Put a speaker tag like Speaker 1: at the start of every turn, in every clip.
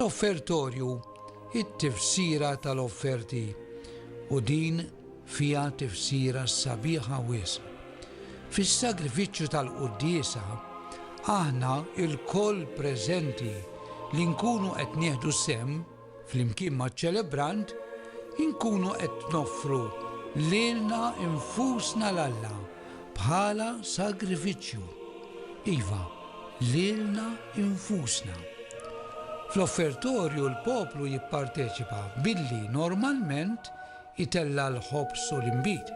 Speaker 1: L-offertorju it-tifsira tal-offerti u din fiha tifsira sabiħa wisq. Fis-sagrifiċċju tal-quddiesa aħna lkoll preżenti li nkunu qed nieħdu sehem Flimkien maċ-ċelebrant, inkunu qed noffru lilna nfusna 'l Alla bħala sagrifiċċju. Iva, lilna nfusna. Fl-offertorju l-poplu jipparteċipa billi normalment jtella' l-ħobż u l-inbid.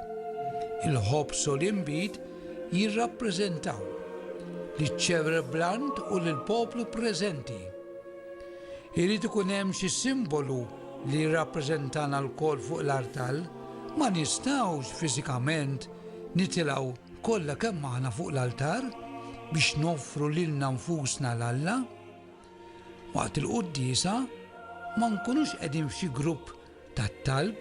Speaker 1: Il-ħobż u l-inbid jirrappreżentaw liċ-ċerblant u lill-poplu preżenti. Irid ikun hemm xi simbolu li jirrappreżentana lkoll fuq l-artal, ma nistgħux fiżikament nitilgħu kollha kemm aħna fuq l-altar biex noffru lilna nfusna 'l Alla. Waqt il-quddiesa ma nkunux qegħdin f'xi grupp tat-talb,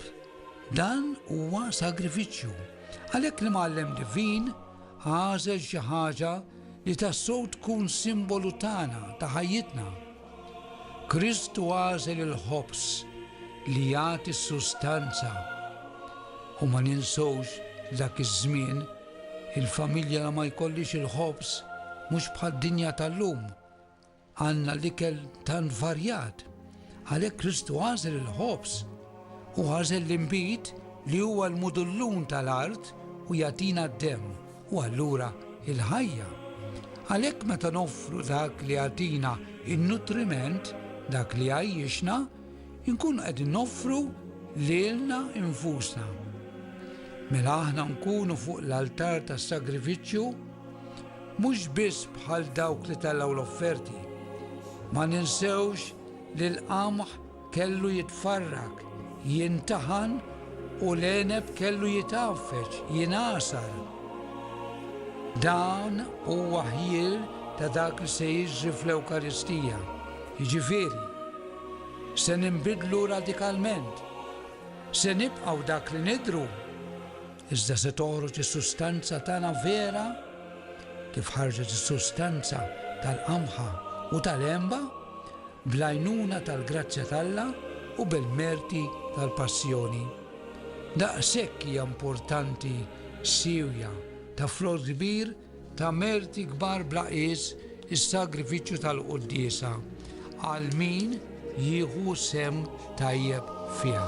Speaker 1: dan huwa sagrifiċċju. Għalhekk l-Imgħallem Divin għażel xi ħaġa li tassew tkun simbolu tagħna ta' ħajjitna. Kristu għażel il-ħobż li jagħti s-sustanza. U ma ninsewx dak iż-żmien il-familja ma jkollix il-ħobż mhux bħad-dinja tal-lum. Għandna l-ikel tant varjat, għalhekk Kristu għażel il-ħobż u għażel l-inbid li huwa l-mudullun tal-art u jagħtina d-demm u allura il-ħajja. Għalhekk meta noffru dak li jagħtina in-nutriment, dak li għajjixna, inkunu qed noffru lilna infusna. Mela aħna nkunu fuq l-altar tas-sagrifiċċju Mhux biss bħal dawk li tellgħu l-offerti. Ma ninsewx li l-qamħ kellu jitfarrak, jintaħan u l-għeneb kellu jitgħaffeġ, jingħasar. Dan huwa ħjiel ta' dak li se jiġri fl-Ewkaristija. Jiġifieri, se ninbidlu radikalment, se nibqgħu dak li nidhru Iżda se toħroġ is-sustanza tagħna vera, kif ħarġet is-sustanza tal-qamħa u tal-għenba, bl-għajnuna tal-grazzja t'Alla u bil-merti tal-Passjoni. Daqshekk hija importanti siewja ta' frott kbir Ta' merti kbar bla qies is-sagrifiċċju tal-quddiesa għal min jieħu sehem tajjeb fiha.